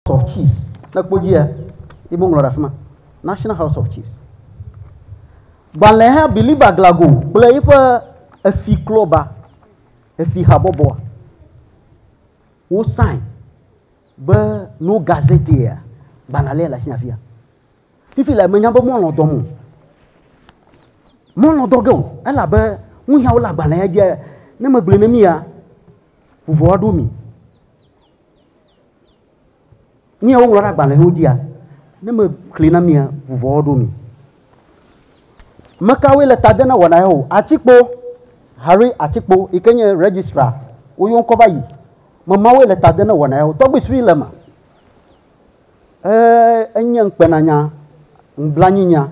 House of Chiefs. Ne ekpɔ dzia, ye woŋlɔ ɖe afi ma. National House of Chiefs. Gbalẽha Billy Baglago kple eƒe efi klɔba, efi habɔbɔa, wo sign be no gazetteer gbalẽa lé le asi afia. Fifi la menya be mɔlɔ dɔm o. Mɔlɔ dɔ ge o elabe nuyawo le agbalẽa dzia ne megblɔe ne mia vuvɔ aɖo mi. Nu ya woŋlɔ ɖe agbalẽwo dzia, ne mexlẽ na mia, vuvɔwo ɖo mi. Mekawoe le ta dem na wɔna ya o? Atikpo, Harry Atikpo yi ke nye registrar, woyɔ ŋkɔ va yi. Memawoe le ta dem na wɔna ya o. Tɔgbi Sri le eme. Eee, enye ŋukpenanya, nublanuinya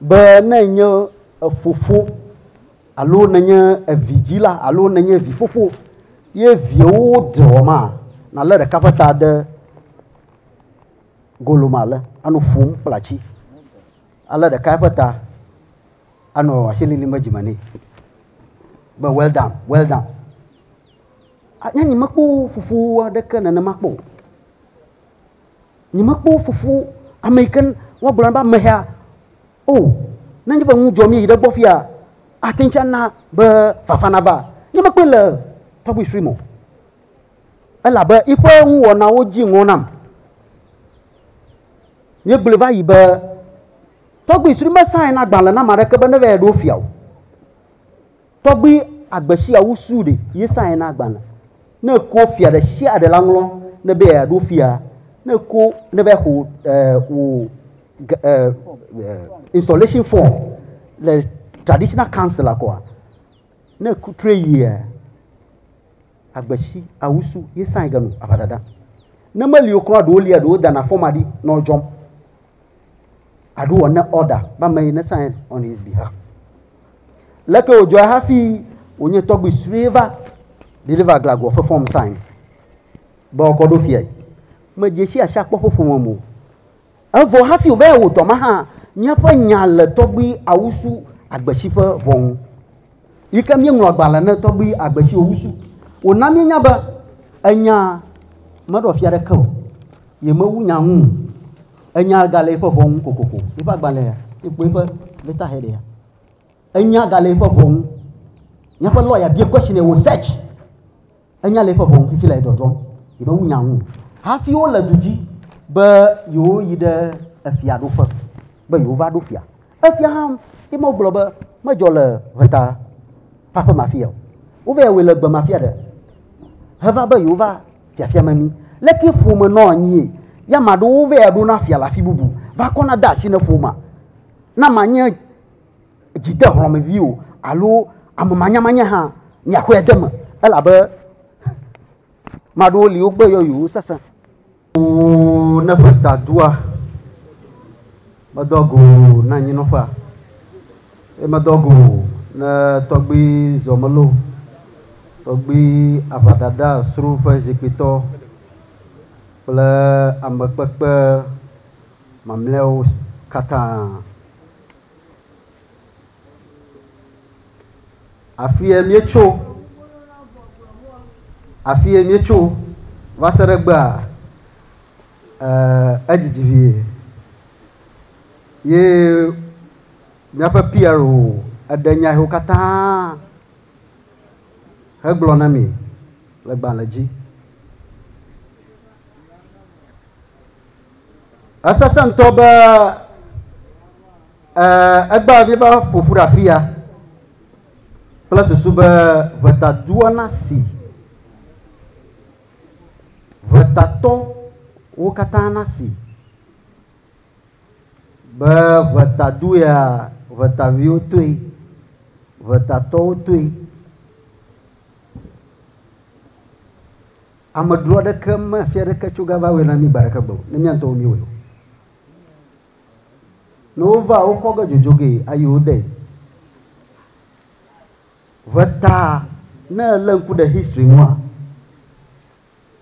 be ne ènye efofo alo nènye evidzila alo nènye vifofo ye viawo ɖe wɔ ma, nàlé ɖeka ƒe ta de golo me ale anɔ ƒom kple atsi. Alé ɖeka eƒe ta anɔ asi lilim ɖe dzime nɛ be well done, well done. A- Nye nyemekpɔ fofo aɖeke nenema kpɔ o. Nyemekpɔ wo fofo ame yi ke woagblɔ na be amehea o. Ne nye be nu dzɔ mí yi ɖe egbɔ fia, ate ŋuti ana be fafa nava. Nyemekpɔe le tɔgbui Shrim o. Elabe eƒe nuwɔnawo dzi ŋɔ nam. Míegblɔe va yi be tɔgbui Shrim mesaena agbalẽ na ame aɖeke be nevae ɖo fia o. Tɔgbi agbeshia wu su ɖe yesa ena agbalẽ. Ne eko fia ɖe shia ɖe la ŋlɔ ne be ya ɖo fia, ne eko ne be xo e wo e e installation form le traditional council la kɔa, ne ku tre yia agbeshi awu su yesa ege nu ava dada. Ne meli okrɔ ɖewo lia ɖewo dana form aɖi nɔ dzɔm. I do an order ba me ne sign on his behalf. Leke wòdzɔ hafi wònye tɔgbi sue va deliver glagoa ƒe form sign be wokɔ ɖo fiae. Medze si asi akpɔ ƒe ƒome mo. Evɔ hafi wòva yɛ wòdɔ ma hã, míaƒe nya le tɔgbi awusu agbesi ƒe vɔ ŋu. Yi ke míeŋlɔ agbalẽ ne tɔgbui agbe siwo wusu wòna míenya be enya meɖɔ fia aɖeke o, yemewu nya ŋu o. Enya gale eƒe ʋɔ ŋu kokoko. Eƒe agbalẽ ya, ekpɔ eƒe letterhead ya. Enya gale eƒe ʋɔ ŋu. Míaƒe lɔya bia questionnaire wò search. Enya le eƒe ʋɔnu fifi le dɔdrɔm yi ɖe ŋunya ŋu hafi wole du dzi be yewoyi ɖe efia ɖoƒe be yewova ɖo fia. Efia hã ye me gblɔ be medzɔ le ʋeta ƒe aƒe ma fia o. Wova wɔe le gbe ma fia ɖe heva be yewova fiafia me mi. Leke ƒome nɔ anyi ya ma ɖewo va ɖo na fia le afi bubu va kɔna de asi ne ƒoma na ma nye dzidehlɔ̃mevi o alo ame manyamanya hã, miaxɔe de eme, elabe ame aɖewo li wogbe yɔyowo sesẽ. Oo, ne ƒeta dua, medoa go ne anyinɔƒea, eye medoa go ne tɔgbui zɔmelo, tɔgbui aʋaɖaɖa sro ƒe zikpuitɔ kple amekpekpe mamlɛawo katã. Afie míetso, afie míetso va se ɖe egbea, ee, edzidzi vie. Ye míaƒe Pierre o, eɖe nya yewo katã hegblɔ na mi le gbalẽ dzi. Esesẽ ŋutɔ be egbea vi va ƒo ƒu ɖe afi ya kple susu be ʋetadua nasi ʋetatɔwo katã nasi be ʋetadu ya ʋetaviwo toe, ʋetatɔwo toe. Amedro aɖeke mefia aɖeke tso gava wɔe na mí gbe aɖeke gbe o, ne mía ŋutɔwo míewɔe o. Ne wova, wokɔ ge dzodzo gee ayi wo dee. Ʋeta, ne èlé ŋku ɖe history ŋua,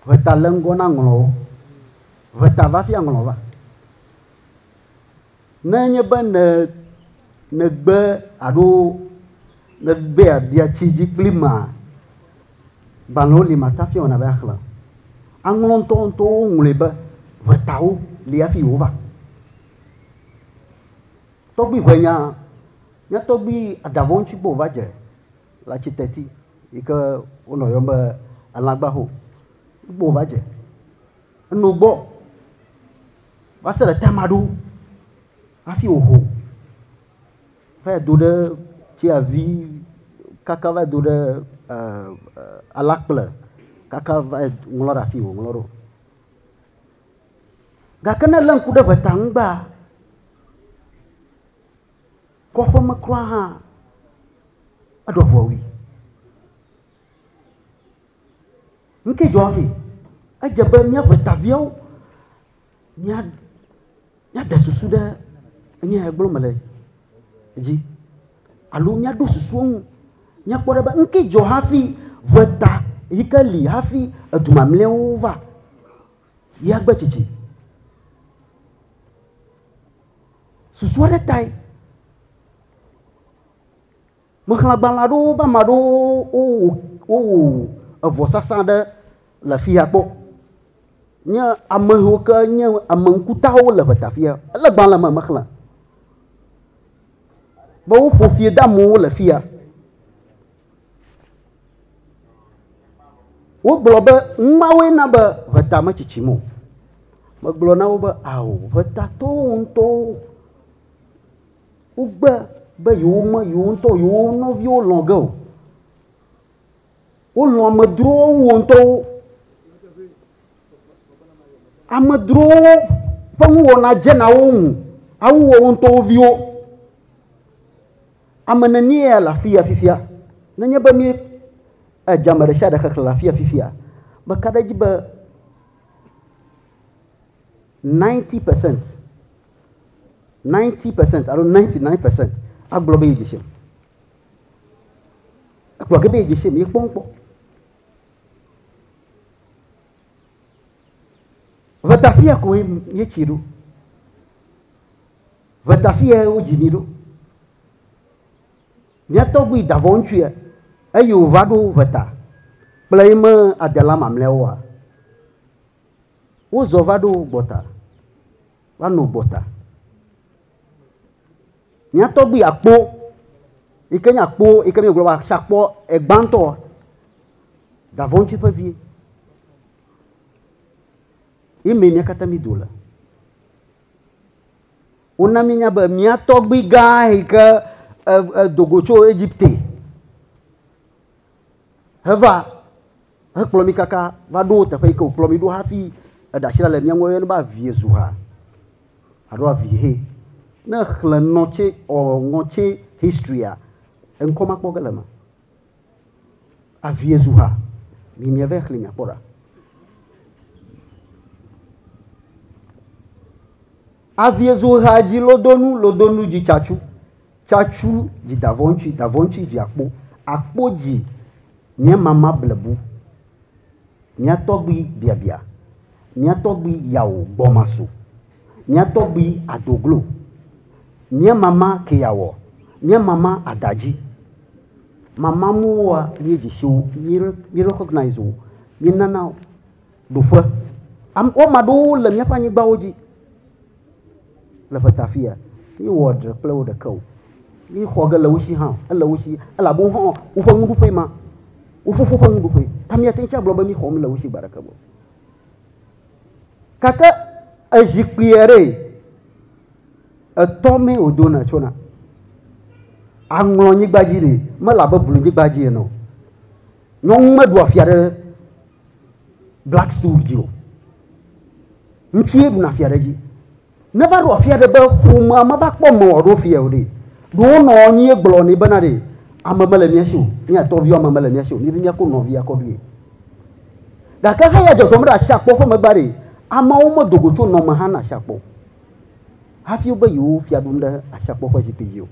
ʋeta le ŋgɔ na ŋlɔwo. Ʋeta va fia ŋlɔ va. Ne enye be ne nègbe alo nègbe yeabia tsi dzi kplim mea, gbalẽwo li màte ŋu afia wɔna be axlẽ o. Aŋlɔ ŋutɔŋutɔwo woŋlɔe be ʋetawo li hafi Yehowa. Tɔgbui ʋɛnya, mía tɔgbui Adavɔŋtsi gbɔ wòva dze le Atsiteti yi ke wonɔ yɔm be Elãgbaho gbɔ wòva dze. Eno gbɔ va se ɖe ta ma ɖo hafi wòho va yi do ɖe tsaɛvi kaka va yi do ɖe alakple kaka va yi ŋlɔ ɖe afi yi wòŋlɔ ɖo. Gake ne èlé ŋku ɖe ŋe ta ŋgbea, kɔƒe me kura hã, eɖɔ ŋu wui. Nuke dzɔ hafi? Edze be mía ƒe taviawo, mía, mía de susu ɖe nuya he gblɔ me le dzi alo mía ɖo susu eŋu. Mía kpɔ ɖe be nuke dzɔ hafi ŋu eta yike li hafi edu mamleawo va yea gbe tsitsi. Susua ɖe tae Mexlẽ agbalẽ aɖewo be ame aɖewo wowɔ wowɔ vɔsasa aɖe le afi ya kpɔ. Nye ame yiwo ke nye ame ŋkutawo le ŋɔta afi ya. Ele gbalẽ me mexlẽ be woƒo fia de amewo le afi ya. Wogblɔ be numawoe na be ŋɔta metsitsim o. Megblɔ na wo be ao ŋɔtatɔwo ŋutɔwo. wogbe be yewo me yewo ŋutɔ yewo nɔviwo lɔ ge o. Wolɔ amedzrowo wu wo ŋutɔwo. Amedzrowo ƒe nuwɔna dze na wo ŋu awu woawo ŋutɔ wo viwo. Ame nenie ya le afi ya fifia? Nenye be mí edze ame ɖe sia ɖe xexlẽ le afi ya fifia, meka ɖe edzi be ninety percent. 90 percent alo 99 percent agblɔ be yedze shem. Ekplɔ ge be yedze shem, yekpɔ ŋkpɔ. Vetafia ko yetsi ɖo. Vetafia wodzi mi ɖo. Mía tɔgbui davɔ ŋutsua eye wòva ɖo veta kple yi me adela mamlɛawoa, wozɔ va ɖo gbɔta. Va no gbɔta. Mía tɔgbi akpo, yi ke nye akpo, yi ke míegblɔ be sakpɔ egbãtɔ, davɔntsi ƒe vi. Yi mee mía katã mí do le. Wona mí nya be mía tɔgbi gã yi ke edogo tso Egipte heva Hekplɔ mí kaka va ɖo teƒe yi ke wòkplɔ mí ɖo hafi eɖe asi ɖa le mía ŋu. Eyɔnɛ be avie zu ha alo avi he. Ne èxlẽ Nɔtse or Ŋɔtse History-a, eŋkɔ ma kpɔ ge le eme. Avie zu ha. Mi miave xlẽe miakpɔ ɖa. Avie zo ɣea dzi lodonu lodonu dzi tsatsu tsatsu dzi davɔntsui davɔntsui dzi akpo akpo dzi nye mama blebu mia tɔgbui biabia mia tɔgbui yawo gbɔmaso mia tɔgbui adoglo mia mama keyawɔ mia mama adadzi mama muwoa mie dzi siwo mire mire kɔgnaizo mie nanawo. Ɖoƒe. Am, wo ame aɖewo le míaƒe anyigbawo dzi le ƒeta afi ya. Míewɔ ɖe kple wo ɖeke o. Míexɔ ge le wo si hã o. Ele wo si elabe wo hã woƒe nuɖuƒe ma. Wo fofo ƒe nuɖuƒe. Ta míate ŋu agblɔ be míexɔ mele wo si gbe aɖeke o. Gake ezikpui aɖe etɔ mee wòdona tsona. Aŋlɔ nyigba dzi ɖe mele abe blunyigba dzi ene o. Nyɔnu meɖua fia ɖe black stool dzi o ŋutsu ye ɖuna fia ɖe dzi neva ɖo afia ɖe be ƒomea meva kpɔ me wòaɖo fia o ɖe ɖewo nɔ anyi gblɔ nɛ bena ɖe ame mele mía si o mía tɔviwo ame mele mía si o míaɖe míakɔ nɔvia kɔ ɖoe gake hã ya dzɔdzɔm ɖe asi akpɔ ƒe megbe ɖe ameawo medo go tso nɔme hã na asi akpɔ hafi wobe yewo fia ɖum ɖe asi akpɔ ƒe zikpui dzi o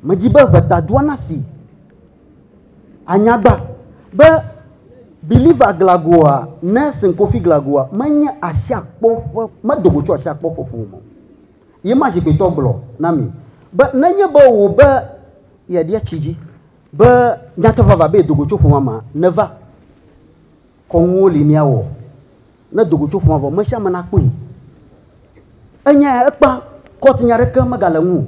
Medi be ʋetadua nasi anyagba be Believer Glagoa, Nelson Kofi Glagoa, menye asiakpɔ ƒe, medo go tso asiakpɔ ƒe ƒome o. Ye ma zikpuitɔ gblɔ na mi be nenye be wò be yeaɖia tsi dzi be nyateƒe vavã be yedo go tso ƒomea mea, neva Kɔnuwo li míawɔ ne do go tso ƒomea vɔ, me sia me nakpɔe. Enyae ya, ekpã, court nya ɖeke megale ŋu o.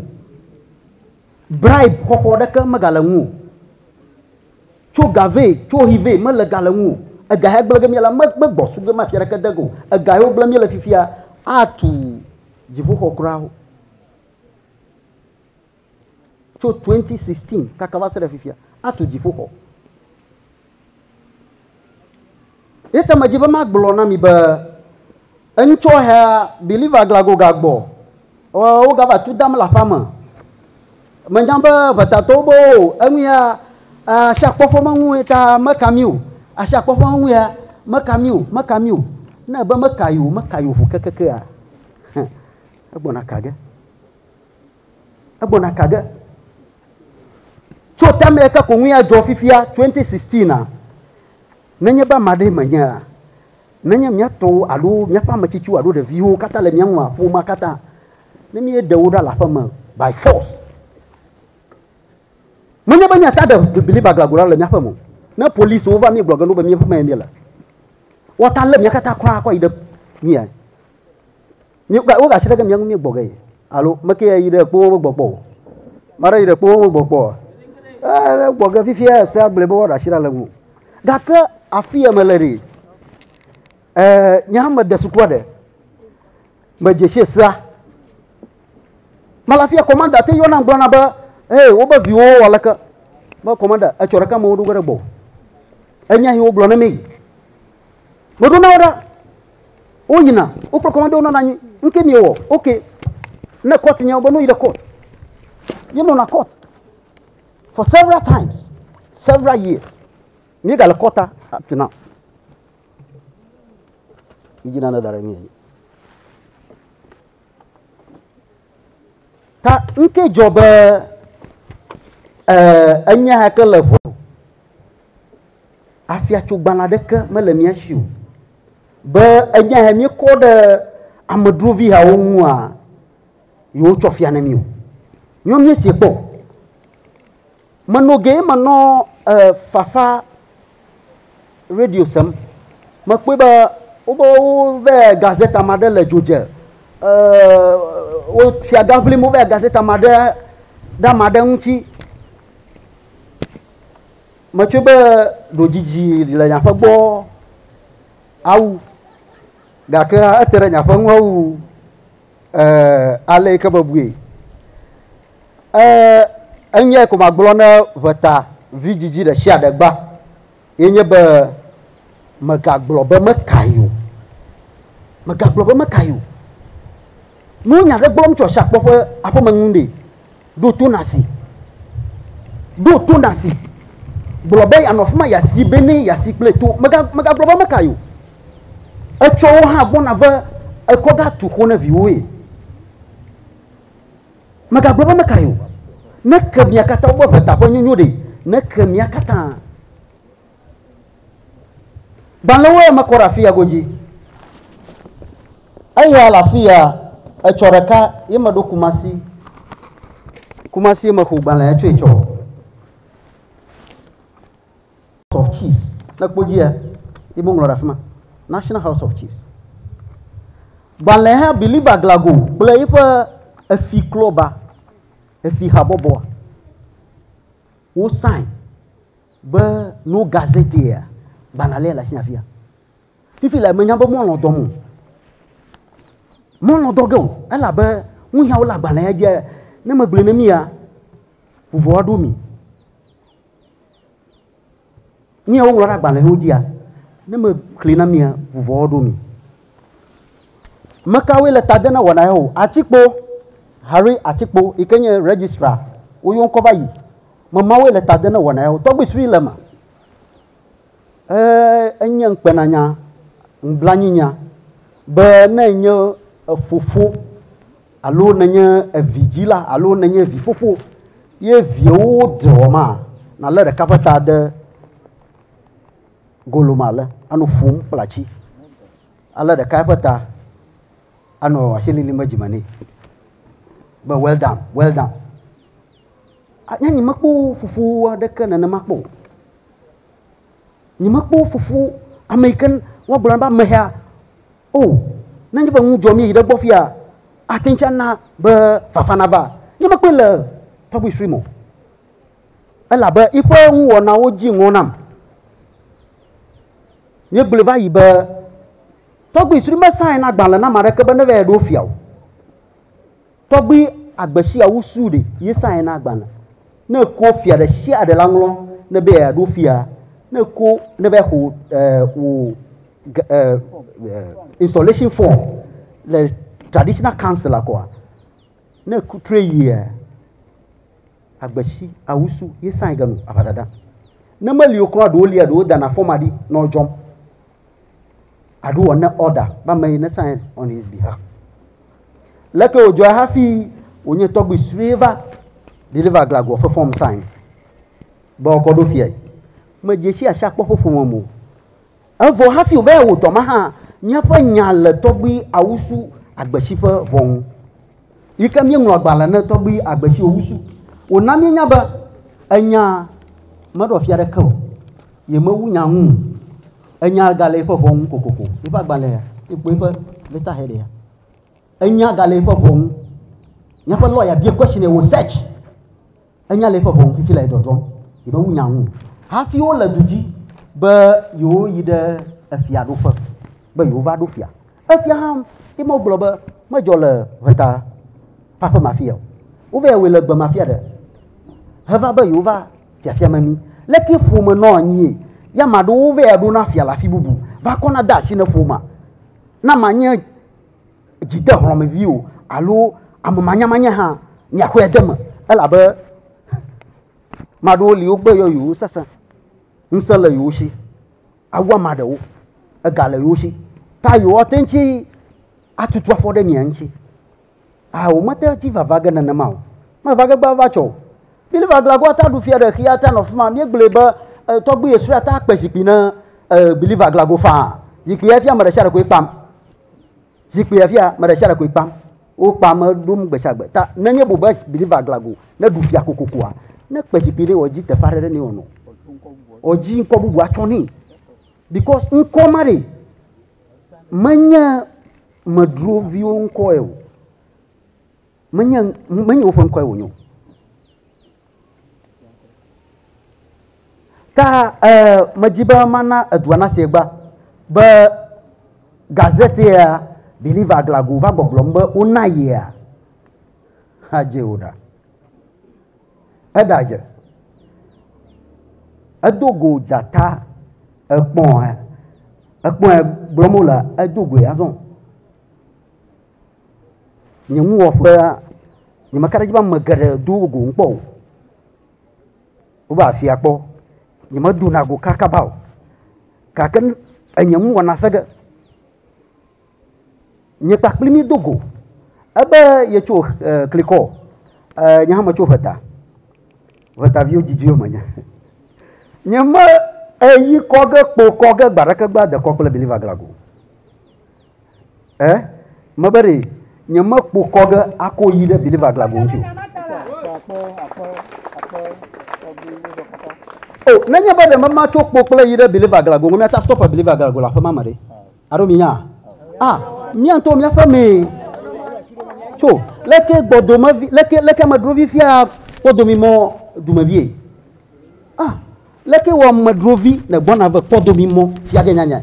Bribe xɔxɔ ɖeke megale ŋu o. Tso ga vɛ, tso hi vɛ mele ga le ŋu o. Ega ya gblẽ ge mía la, me, megbɔ su ge mafia ɖeke de ge o. Ega yiwo gblẽ míele fifia atu dziƒoxɔ kura o. Tso 2016 kaka va se ɖe fifia, atu dziƒoxɔ. Eya ta medzi be magblɔ na mi be eŋutsɔhea believer glago gagbɔ ɔ, wogava tu dam le aƒea me. Menya be ʋetatɔwo be o, eŋu ya asi akpɔ ƒe meŋu ye ta meka mi o. Asi akpɔ ƒe meŋu ya meka mi o, meka mi o. Ne ebe meka yi o, meka yi o ʋu kekekea, egbɔna ka ge. Egbɔna ka ge? Tso tamea ka ko ŋue adzɔ fifia 2016 a? Nenye be ame aɖee menyea, nenye mía tɔwo alo míaƒe ame tsitsiwo alo ɖeviwo katã le mía ŋua, ƒomea katã, ne míeɖe wo ɖa le aƒe me by force, menye be míate ŋu aɖe believer glaglola le míaƒe me o. Ne policiwo va míegblɔ ge na wo be míaƒe mee míele, woate ŋu alé mía katã kura akɔ yi ɖe mía. Woga asi ɖe ke mía ŋu míegbɔ ge alo meke ya yi ɖe kpo wo gbɔ kpɔ o. Mara yi ɖe kpo wo gbɔ kpɔ. Eh, gbɔ ge fifi ya se agble be woɖe asi ɖe le ŋu. Gake afi ya me le ɖi. Eh, nye hã me de sukua ɖe. Me dze se sea. Mala fia kɔmanda te yɔna gblɔna be, "Hey, wo be viwo wɔ leke?" Be kɔmanda, etsɔ ɖeka me wo ɖo ge ɖe gbɔ. Enya yi wo gblɔ ne mi. Woɖo na wo ɖa. Woyina, wokplɔ kɔmande wonɔna anyi. Nu ke miewɔ, ok. Ne kɔt nye wobe nu yi ɖe kɔt. Míenɔna kɔt for several times, several years. Míegale kɔta up to now. Yidzi nane da ɖe mía dzi. Ta nu ke dzɔ be eh, enya ke le ʋu afiatsogbalẽ aɖeke mele mía si o. Be enya ya míekɔ ɖe amedzrovihawo ŋua, yewotsɔ fia ne mí o. Nyɔ míesie kpɔ. Menɔ ge menɔ e, fafa radio sem. Mekpɔe be wobe wove gazette ame aɖe le dzo dze. E, wo fiaga ʋlim wove gazette ame aɖe ɖe ame aɖe ŋuti. Metsɔe be ɖo dzidzi le nye aƒe gbɔ awu, gake hã ete ɖe nye aƒe ŋu awu ale yi ke mebui. Enyia ko magblɔ ne ʋeta vi dzidzi ɖe sia ɖe gba ye nye be megagblɔ be meka yi o. Megagblɔ be meka yi o. Menye nya aɖe gbɔm tso Ashiakpɔ ƒe aƒeme ŋu ɖe. Ɖo to nàsi. Ɖo to nàsi. Gblɔ be yeanɔ afi ma yeasi be ne yeasi kple to. Megagblɔ be ame kae o. Etsɔ wo hã gbɔna ve ekɔ ga tu xo ne viwoe. Megagblɔ be ame kae o. Ne ke mia katã woƒe ʋeta ƒe nyonyo ɖe, ne ke mia katã. Gbalẽwoe mekɔ ɖe afia godzi. Eya le afia, etsɔ ɖeka ye meɖo Kumasi. Kumasi ye mexo gbalẽ etsɔe tsɔ. House of Chiefs, ne kpɔ dzia, ye meŋlɔ ɖe afi ma. National House of Chiefs. Gbalẽ hã Believer Aglago kple eƒe efi klɔba, efi habɔbɔa, wo sign Be no gazetea, gbalẽ alea le asi afia. Fifi le menya be mɔlɔ dɔm o. Mɔlɔ dɔ ge o, elabe nuyawo le agbalẽa dzi ne megblɔe ne mia, vuvɔ aɖo mi. Nuyawo ŋlɔ ɖe agbalẽwo dzia, ne mexli na mia, vuvɔ aɖo mi. Mekawoe le ta de na wɔna ya o? Atikpo, Harry Atikpo yi ke nye registrar, woyɔ ŋkɔ va yi. Mamawoe le ta de ne wɔna yawo. Tɔgbi sri le ma. E enye ŋkpena nya, ŋblanyi nya be ne enye efofo alo ne enye evi dzi la alo ne enye evi fofo ye viewo dze wɔ ma na le ɖeka ƒe ta de golo ma le anu ƒum kple atsi. Ale ɖeka ƒe ta anɔ asi lili me dzime nɛ. Be well done, well done. Nyemekpɔ fufu aɖeke nenema kpɔ o. Nyemekpɔ fufu ame yi ke woagblɔ na be amehea o. Ne enye be nu dzɔ mí yi ɖe egbɔ fiya, ate ŋu ana be fafa nava. Nyemekpɔe le tɔgbui sue me o. Elabe eƒe nuwɔnawo dzi ŋɔ nam. Míegblɔe va yi be, tɔgbui sue mesãe na agbalẽ na ame aɖeke be neva yi ɖo fia o. Tɔgbi agbe shia wu su ɖe ye sa ye na gbalẽ. Ne eko fia ɖe shia ɖe la ŋlɔ ne be ya ɖo fia, ne eko ne be xo eh, wo eh, eh, installation form le traditional council la kɔa, ne ku tre yia agbe shi awu su ye sa ye ganu abadada. Ne me lio kura ɖo lia ɖo dana form aɖi nɔ jɔm. Aɖo ne order ba me ne sign on his behalf. Leke wòdzɔe hafi wònye tɔgbui sue va deliver glagua ƒe fɔm sign be wòakɔ ɖo fiae? Medze si asia kpɔ ƒe ƒome me o. Evɔ hafi wòva yi wòtɔ ma hã, míaƒe nya le tɔgbui Awusu Agbesi ƒe vɔ ŋu. Yi ke míeŋlɔ agbalẽ ne tɔgbui Agbesi Owusu, wòna míenya be enya meɖɔ fia aɖeke o, yemewu nya ŋu o. Enya gale eƒe ʋɔ ŋu kokoko. Eƒe agbalẽa, ekpɔe eƒe letterheadia, enya gale eƒe ʋɔ ŋu. Míaƒe lɔya bia question eye wò search. Enya le eƒe ʋɔ ŋu fifi le edɔdrɔm. Yemewu nya ŋu hafi wole du dzi be yewoyi ɖe efiaɖuƒe be yewova ɖo fia. Efia hã ye ma wogblɔ be medzɔ le ʋeta ƒe aƒe ma fia o. Wova wɔe le gbe ma fia ɖe. Heva be yewova fiafia me mi. Leke ƒome nɔ anyi ya ma ɖo wova ya ɖo na fia le afi bubu. Va kɔ na de asi ne ƒoma. Na ma nye dzide hlɔmevi o alo ame manyamanya hã mi axɔ ya de me. Elabe ma ɖo li wogbe yɔ yewo sese. Ŋse le yewo shi. Awu ama ɖewo, ega le yewo si, ta yewoate ŋtsi atutu afɔ ɖe mia ŋtsi. Aa womete ŋtsi vava ge nenema o. Meva ge gba va tsɔ o. Billy Vaglagoa ta ɖu fia ɖe xia ta nɔ fima. Míegblɔe be e, tɔgbi Yesura ta kpe zikpui ne e, Billy Vaglago faa. Zikpuia fia meɖesiaɖe koe kpam. Zikpuia fia meɖesiaɖe koe kpam. Wo kpa me ɖom gbe sia gbe. Ta ne nye bu be believer glago ne ɖu fia kokokoa, ne kpe zikpui ɖe wɔ dzi teƒe aɖe ɖe ne wɔ nɔ. Wɔ dzi ŋkɔ bubu atsɔ nɛ. Because ŋkɔ ma ɖe menye medroviwo ŋkɔe o. Menye menye woƒe ŋkɔe wonye o. Ta eh, medzi be mana edua nasi egba be gazete ya Believer Aglago va gbɔgblɔm be wona yea. Hadze wò ɖa. Eɖadze. Edo go dzata ekpɔn ekpɔn gblɔm wole edo goe azɔ. Nye nuwɔƒea, nye meka ɖe edzi be ame geɖe do go ŋkpɔ o. Wova afia kpɔ. Nye me dona go kakaba o gake nu enye nu wɔna se ge. Nye kpakple mi do go ebe yetso e klikɔ e nye hã metso ŋeta. Ŋeta viwo didi wome nye. Nye me eyi kɔ ge kpo kɔ ge gbe aɖeke be dekɔ kple Believer Glagoo. Eh? Mebe ɖe nyemekpo kɔ ge ako yi ɖe believer glago ŋuti o. O, oh, nenye be ɖe mema tso kpo kple yi ɖe believer glago ŋu, miata stop believer glago le aƒe ma me ɖe. Alo mi nya? Ah, mia ŋutɔ miaƒe mee. Tso, leke gbɔdome vi, leke, leke medro vi fia kpɔdo mi mɔ dume vie. Ah, leke wɔ medro vi ne gbɔna ve kpɔdo mi mɔ fia ge nyanya.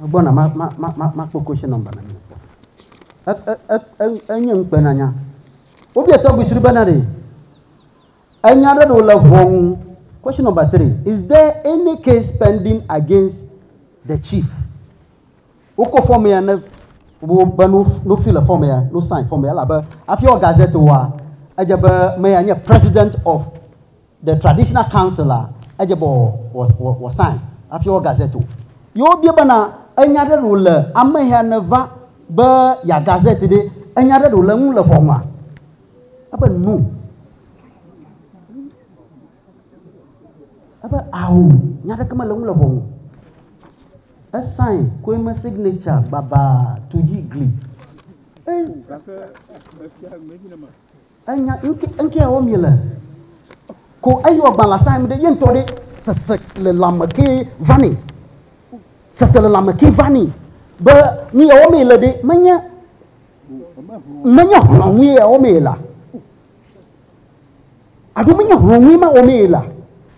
Megbɔna ma, ma, ma, ma, makpɔ question number na mi. E, e, e, e, enye ŋukpenanya. Wobia tɔgbi sri bena ɖe enya aɖe ɖo le ʋɔnu. Question number three, is there any case pending against the chief? Wokɔ fɔm ya ne wobe no no fi le fɔm ya, no sign fɔm ya elabe afi wɔ gazette wa, edze be me ya nye president of The Traditional Council a, edze be wòasãe hafi wɔ gazette o. Ye wobia bena, Enya aɖe ɖe wòle ameya nèva be yeaha gazette ɖe? Enya aɖe ɖe wòle eŋu le ʋɔnua? Ebe, No. Ebe, Ao, nya aɖeke mele eŋu le ʋɔnu. Esãe koe me signature gbabaa tu dzi gli. Enya ŋkɛawo mi le ko eyi wɔ gban la sa mi ɖe ye ŋtɔ ɖe sese le lame ke vani sese le lame ke vani be mi yawo mi le ɖe menye menye hlɔ ŋui yawo mi la aɖo menye hlɔ ŋui ma wo mi la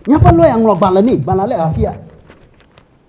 miaƒe lɔya ŋlɔ gban le ne gban la le afia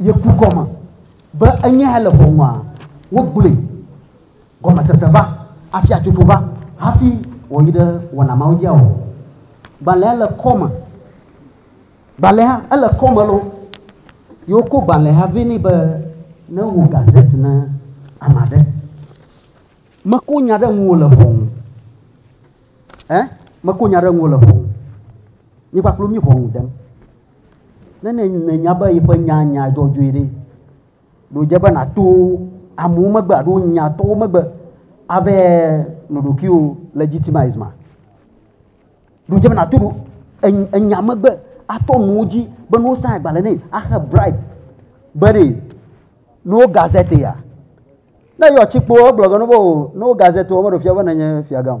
Yeku gɔme be enye hele ʋɔnua? Wogblɔe, Gɔmesese va, afiatsotso va hafi wòyi ɖe wɔna mawo dzia? Ɔ, gbalẽa le kɔ me. Gbalẽa, ele kɔ me loo. Ye wokɔ gbalẽa vɛ nɛ be newɔ gazette na ame aɖe. Mekɔ nya ɖe ŋuwò le ʋɔnu. Ɛ? Mekɔ nya ɖe ŋuwò le ʋɔnu. Nye kpakple wò míeʋɔnu dem. Ne nènya be yeƒe nya nya dzɔdzɔe ɖe, ɖodze be nàto amewo megbe alo nyatɔwo megbe ave noɖokuiwo legitimize ma. Ɖodze be nàto enya megbe atɔ nuwo dzi be ne wosa agbalẽ nɛ axe bribe be ɖe ne wo gazete ya. Ne yɔ tsikpo egblɔ ge ne wo ne wo gazete wo meɖe fia be nenye fiagã o.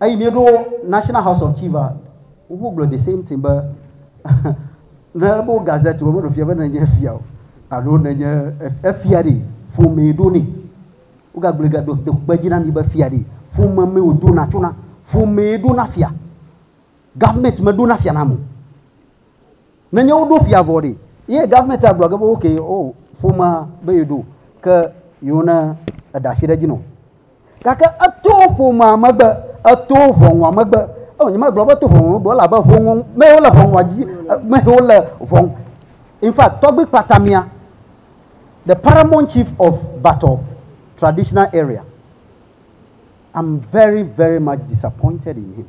Eyi mieɖo National House of Chief a, woƒe gblɔ the same thing be ne ele be wo gazette wo meɖo fia be ne nye fia o alo ne nye efia ɖe ƒomee ɖo nɛ. Wo gagblɔe ga do do kpe dzi na mi be fia ɖe ƒome mee wodona tso na. Ƒomee ɖo na fia. Government meɖo na fia nam o. Nenye wo ɖo fia vɔ ɖe, ye government agblɔ ge be okay o oh, ƒomea be ye ɖo ke yewo ne eɖa asi ɖe dzi nɔ. Gake eto ƒomea megbe, eto ʋɔnua megbe. Eo nye magblɔ be to ʋɔnua megbe wole abe ʋɔnua me wole ʋɔnua dzi me wole ʋɔn. In fact, tɔgbi kpatamia the paramount chief of Batɔ traditional area. I'm very, very much disappointed in him.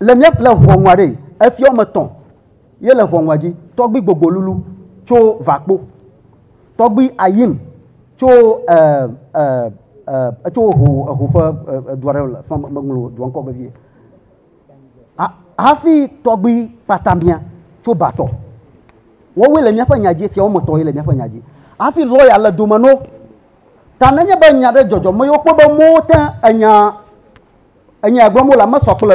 Le mía le ŋɔŋua ɖe, efiɔ ame tɔn ye le ŋɔŋua dzi, tɔgbi gbogbo lulu tso vakpo, tɔgbi ayim tso e, e, e, etso eho, eho ƒe e, dua ɖe le fã meŋlo dua ŋkɔ vevie. Ha, hafi tɔgbi kpatamia tso batɔ. Wɔwoe le míaƒe nya dzi, fia wɔme tɔn ye le míaƒe nya dzi. Hafi lɔya le dome no. Ta nenye be nya ɖe dzɔdzɔ me yewo kpɔ be mowo te enya Enyaya gblɔm wole mesɔ kple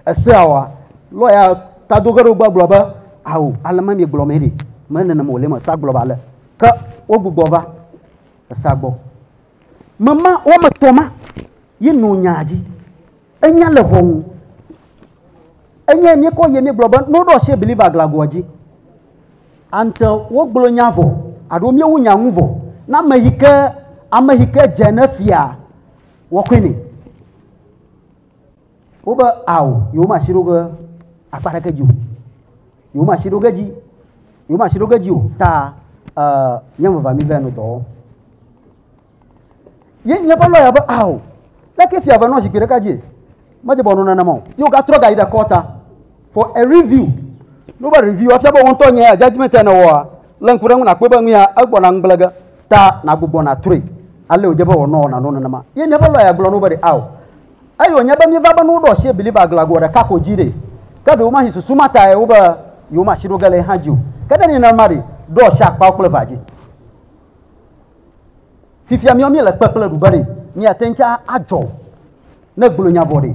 esea oa? Lɔya ta do ge ɖe wo gbɔ gblɔ be, Ao, ale ma miegblɔ mee ɖi. Me nenem wòle me esea gblɔ be ale. Ke wogbugbɔ va esea gbɔ. Me ma, woame etɔ̃ ma ye no nyaa dzi. Enya le ʋɔnu. Enyae míekɔ yie míegblɔ be ne woɖo asi believer glagoa dzi ante wogblɔ nya vɔ alo míewu nya ŋu vɔ na ame yi ke ame yi ke dze ne fia Wɔkɔe nɛ. Wobe ao, yewomasi ɖo ge akpa ɖeke dzi o. Yewomasi ɖo ge dzi, yewomasi ɖo ge dzi o ta uh, nye vava mi vɛ no dɔ wɔm. Ye nye ƒe lɔya be ao, leke fia ve nɔ zikpui ɖeka dzi? Medze bɔ nɔ nenema o. Yewogatrɔ ga yi ɖe kɔta. For a review, ne wova review afia be wò ŋutɔ nye ya judgment ya nèwɔa, lé ŋku ɖe eŋu nàkpɔe be nu ya egbɔna ŋugble ge ta nàgbugbɔ nàtrɔe. Alee wòdze be wòanɔ nanɔ nenema. Ye míaƒe lɔya gblɔ na wo be ɖe ao. Eye wònye be míeva be ne woɖo asie believer gla goa ɖeka ko dzi ɖe, ke ɖe womahi susu ma tae wo be yewomasi ɖo ge le ye hã dzi o. Ke ne enye nenema ɖe, ɖo asie akpawo kple evea dzi. Fifia míawo míele kpekple ɖu be ɖe míate ŋu tsã adzɔ ne gblɔe nya vɔ ɖe.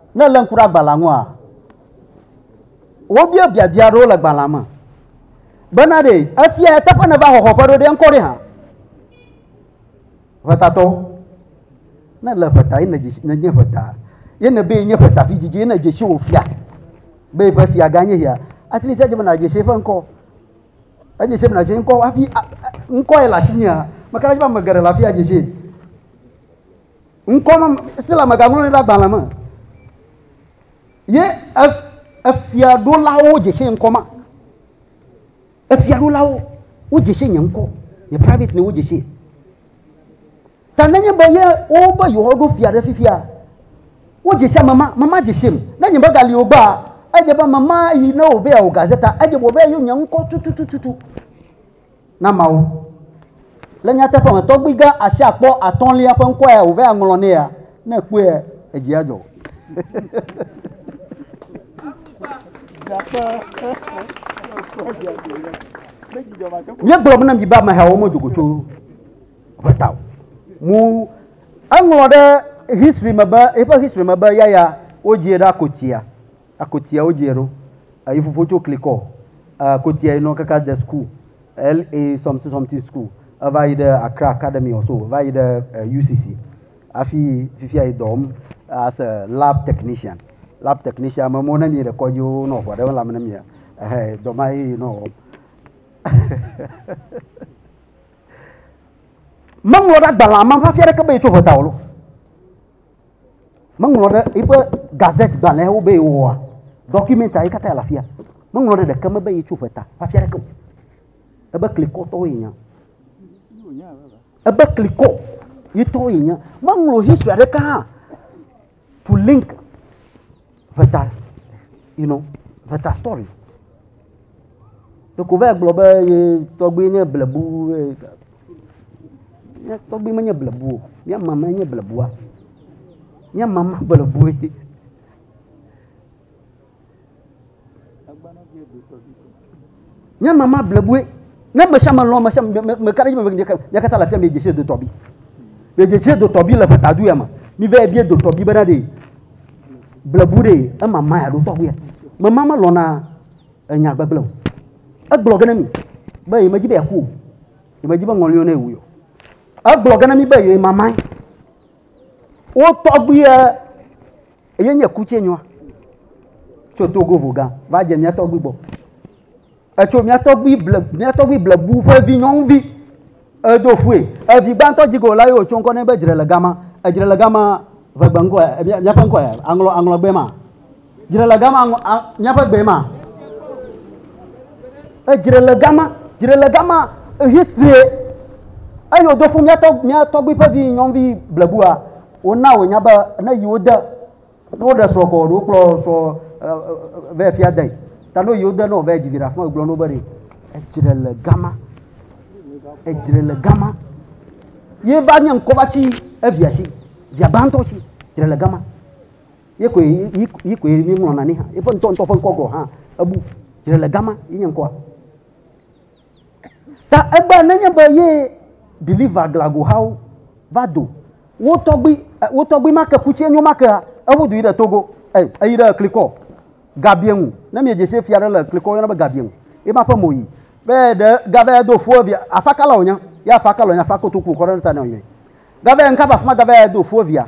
Ne èlé ŋku ɖe agbalẽa ŋua, wobia biabia aɖewo le gbalẽa me bena ɖe efia ya teƒe nèva xɔxɔ ƒe ɖo ɖe ŋkɔ ɖe hã. Ʋetatɔ, ne le ʋeta ye nèdze ʋeta ye nèbe yenye ʋeta vidzidzi ye nèdze si wò fia be eƒe fia gã nye ya, atlisia dze be nàdze si eƒe ŋkɔ. Edze si be nàdze ŋkɔ hafi ŋkɔ ye le asinyea, meka ɖe edzi be ame geɖe le afia dze si. Ŋkɔ ma si la megaŋlɔ nɛ ɖe agbalẽ me ye efiaɖolawo dze se ŋkɔ ma. Efiaɖolawo wodze se nye ŋkɔ, nye private name wodze se. Ta nenye be ye wobe yewoaɖo fia ɖe fifia, wodze se ame ma, ame ma dze sem. Ne nye megali o gbea, edze be ame ma yi ne wòbe yeawɔ gazeta, edze be wòbe yeayɔ nye ŋkɔ tututututu. na Mawu. Le nyateƒe me, tɔgbui gã asi akpɔ atɔ̃lia ƒe ŋkɔ ya wòve aŋlɔ nɛ ya, ne èkpɔe edzi adzɔ wò. Míegblɔ be na mi be amehawo medo go tso ʋe ta o. Mu eŋlɔ ɖe history me be eƒe history me be yaya wodzie ɖe akotia. Akotia wo djie ɖo eyi fofo tso klikɔ akotia yi nɔ kaka de school LA something something school eva yi ɖe Accra academy or so va yi ɖe UCC afi fifia yi dɔ wɔm as a lab technician lab technician me mo ne mi ɖe kɔdzi wo nɔ ʋɔ ɖe lãme ne mi ehe dɔ ma yi nɔ wɔm meŋlɔ ɖe agbalẽa me hafi aɖeke be yi tso ʋɔta o lo Meŋlɔ ɖe eƒe gazette gbalẽwo be yewɔa, document yi katã le afia. Meŋlɔ ɖe ɖeke me be yetso ƒe ta hafi aɖeke o. Ebe klikɔtɔwo ye nya. Ebe klikɔ yetɔwo ye nya. Meŋlɔ history aɖeke hã to link. ʋeta you know ʋeta story ɖeko va yi gblɔ be ye tɔgbui nye blebu ye mía tɔgbui menye blebu o mía mama nye blebua mía mama blebue. Nye mama blebue. Ne me sia me lɔ̃ me sia me me ka ɖe edzi me mia katã le afia mi dzesi do tɔbi. Mi dzesi do tɔbi le ƒetadu ya me. Mi vɛ bie do tɔbi bena ɖe blebu ɖe ema ma ya ɖo tɔgbi ya. Me ma me lɔ̃na enya gbegble o. Egblɔ ge ne mi be yi me dzi be ya ku o. Yi me dzi be ŋɔliwo ne wu o. Egblɔ ge ne mi be yi mama. Wo tɔgbi ya Eye nye ku tse nyɔa. Tso Togo voga va dze mía tɔgbi gbɔ. Etso mía tɔgbi ble mía tɔgbi blebu ƒe vi nyɔnuvi. Edo fue. Evi gbãtɔ dzi go la ye wòtso ŋkɔ nɛ be dzre le gama. Edzre le gama ʋegbe ŋkɔ ya eh, míaƒe ŋkɔ ya aŋlɔ aŋlɔ gbe ma. Dzre le gama míaƒe gbe ma. Edzre le gama dzre le gama history eye wòdo fue mía tɔgbi ƒe vi nyɔnuvi blebua. Wona wònya be ne yi wode, ne woɖe srɔ̃ kɔ alo wokplɔ srɔ̃ vɛ fia de ta ne yi wode ne wòvɛ dzi viɖe afima wògblɔ no be ɖe edzre le gama edzre le gama ye va nye ŋkɔ va tsi evia si via gbãtɔ si dzre le gama ye koe yi koe mi ŋlɔna ni hã eƒe ŋutɔ ŋutɔ ƒe ŋkɔ gɔ hã ebu dzre le gama yi nye ŋkɔa. Ta egbe nenye be ye believer glago hawo va do wo tɔgbi wo tɔgbi ma ke kutsi enyo ma kea ewo du yi ɖe togo ey eyi ɖe eklikɔ gabie ŋu ne mi dze se fia ɖe le eklikɔ yɔna be gabie ŋu ye ma ƒe mo yi be ɖe gave do fo via afa kala wonya ya afa kala wonya afa kotoku kɔ ɖe ta ne wonya gave nka va fuma gave do fo via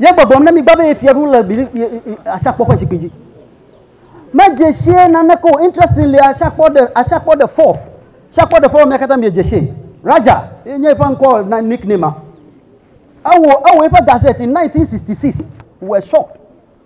Ye gbɔgbɔm ne migba be ye fia ɖu le bili asakpɔ ƒe zikpui dzi. Medze sie naneke o. Interesting le asakpɔ de asakpɔ de fourth. Asakpɔ de fourth mia katã miedze sie. Raja ye nye eƒe ŋkɔ na nickname. Ewɔ ewɔ eƒe gazette in 1966. Were shocked.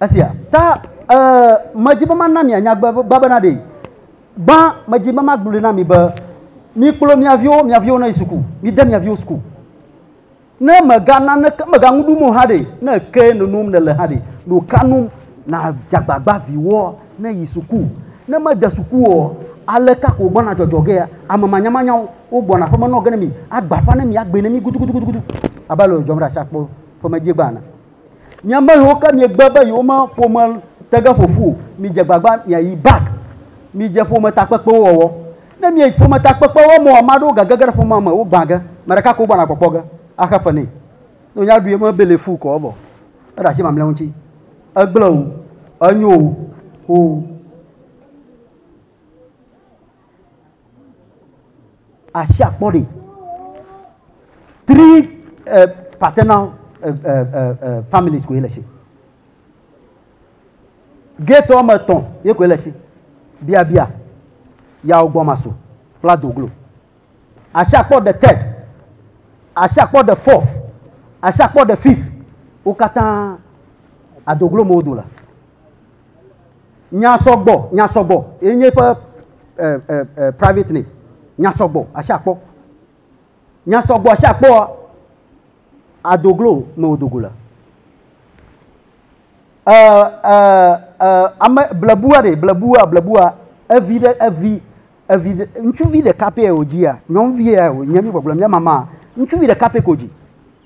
Esia ta ee, medi be mana mi anyagbagba bena ɖee. Gbã, medi be magblɔe na mi be, Mikplɔ mia viwo, mia viwo nayi suku. Mide mia viwo suku. Ne mèga naneke, mèga nu ɖum o hã ɖe, ne ekee nonom nèle hã ɖe, nu ka nu nàdze agbagba viwoa nayi suku? Ne mede suku oa, aleka ko wògbɔna dzɔdzɔ gea? Ame manyamanyawo, wogbɔna aƒeme nɔ ge ne mi, agbe aƒã ne mi, agbee ne mi gudugudugudu, abe ale wòdzɔm ɖe asiakpɔ ƒe medziegba ene. Mi ame yiwo ke miegbe be yewoma ƒome te ge ƒo ƒu o, midze agbagba miayi back, midze ƒometakpekpewo wɔwɔ. Ne mieyi ƒometakpekpewo wɔwɔ mea, ame aɖewo gage ge ɖe ƒomea me, wogbã ge. Ame ɖeka ko wogbɔna kpɔkpɔ ge axe fe nɛ. Ne wònya ɖui eme be le fuu kɔ evɔ. Eɖe asi mamlɛawo ŋuti. Egblẽ o, enyo o, oo. asi akpɔ ɖi. Three uh, paternal uh, uh, uh, uh, families koe le si. Gate wɔme etɔ̃ ye koe le si. Biabia, yawo gbɔmaso kple adoglo. Asi akpɔ the third, asi akpɔ the fourth, asi akpɔ the fifth. Wo katã adoglo mo do la. Nya sɔgbɔ, nya sɔgbɔ ye nye eƒe e, e, e, private name. Nya sɔgbɔ, asi akpɔ. Nya sɔgbɔ, asi akpɔa, adoglo me wòdo go le. E, e, e, ame blebua ɖe, blebua, blebua, evi ɖe, evi, evi ɖe, ŋutsuvi ɖeka pɛ wòdzia, nyɔnuvi ya wònye, mígbɔgblɔ mía mama, ŋutsuvi ɖeka pɛ ko dzi.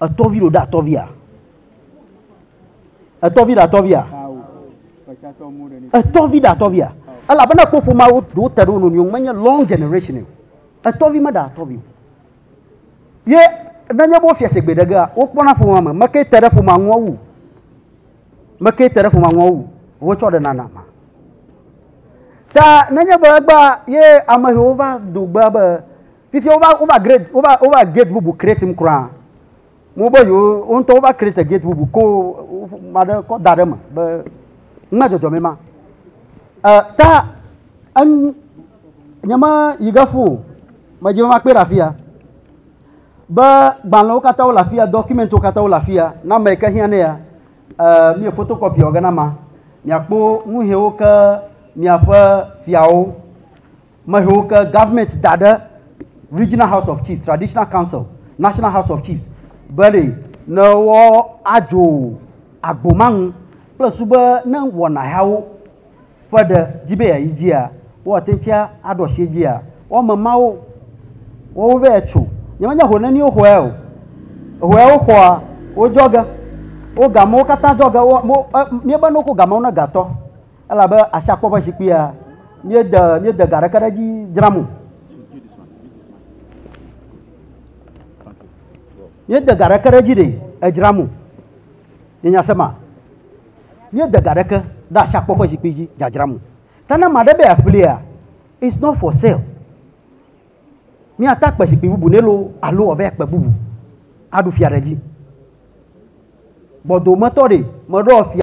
Etɔvi ɖo ɖe atɔvia? Etɔvi ɖe atɔvia? Etɔvi ɖe atɔvia? Elabena kpo ƒomea ɖewo te ɖe wo nɔnɔewo menye long generation o. Etɔvi meɖe atɔvi o. Ye nenye be wofia shigbe ɖe gea, wokpɔna ƒomea me. Meke te ɖe ƒomea ŋua wu? Meke te ɖe ƒomea ŋua wu? Wotsɔ ɖe nana ma. Ta nenye be egbea ye amehewo va do gbea be Fifia wova wova grade wova wova gate bubu create mu kura. Mo be yo wo ŋutɔ wova create gate bubu ko ma ɖe kɔ da ɖe me be ŋmɛ dzɔdzɔ me ma. E ta en nye ma yi ge fu me dzi ma kpe ɖe afia. Be gbalẽwo katã wo le afia dɔkumentiwo katã wo le afia na me ke hiã ne ya. E mi fotokopi wɔ ge na ma. Miakpo nuhiwo ke miaƒe fiawo mehewo ke government da ɖe regional house of chiefs traditional council national house of chiefs be ɖe ne woadzo agbo ma ŋu kple su be ne wɔna yawo ƒe ɖe dzi be yeayi dzia woate ŋuti aɖo asi dzia wɔme mawo wɔwo vɛ tso nyemenye ho neniwo xɔe o ehoe wo xɔa wodzɔ ge wo gamewo katã dzɔ ge wo mo e miebe ne woko gamewo ne gatɔ elabe asiakpɔ ƒe zikpuia míede míede ga ɖeke ɖe edzi dzram o. Míede ga ɖeke ɖe edzi ɖe edzram o. Nyenya se ma. Míede ga ɖeke ɖe asiakpɔ ƒe zikpui dzi dzadzram o. Ta ne ame aɖe be yeaƒlia, it's not for sale. Míata kpe zikpui bubu nɛ loo alo wòava akpe bubu aɖu fia ɖe edzi. Gbɔdometɔ ɖe meɖoa fia.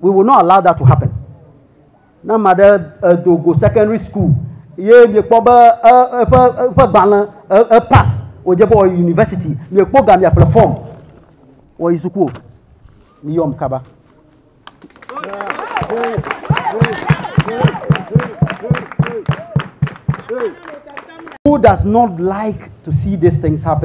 We will not allow that to happen. Ne ame aɖe edo go secondary school ye miekpɔ be eƒe eƒe gbalẽ epass wòdze be wòyi university miekpɔ ga miaƒle fɔm wɔyi suku o miyɔm kaba. Who does not like to see these things happen?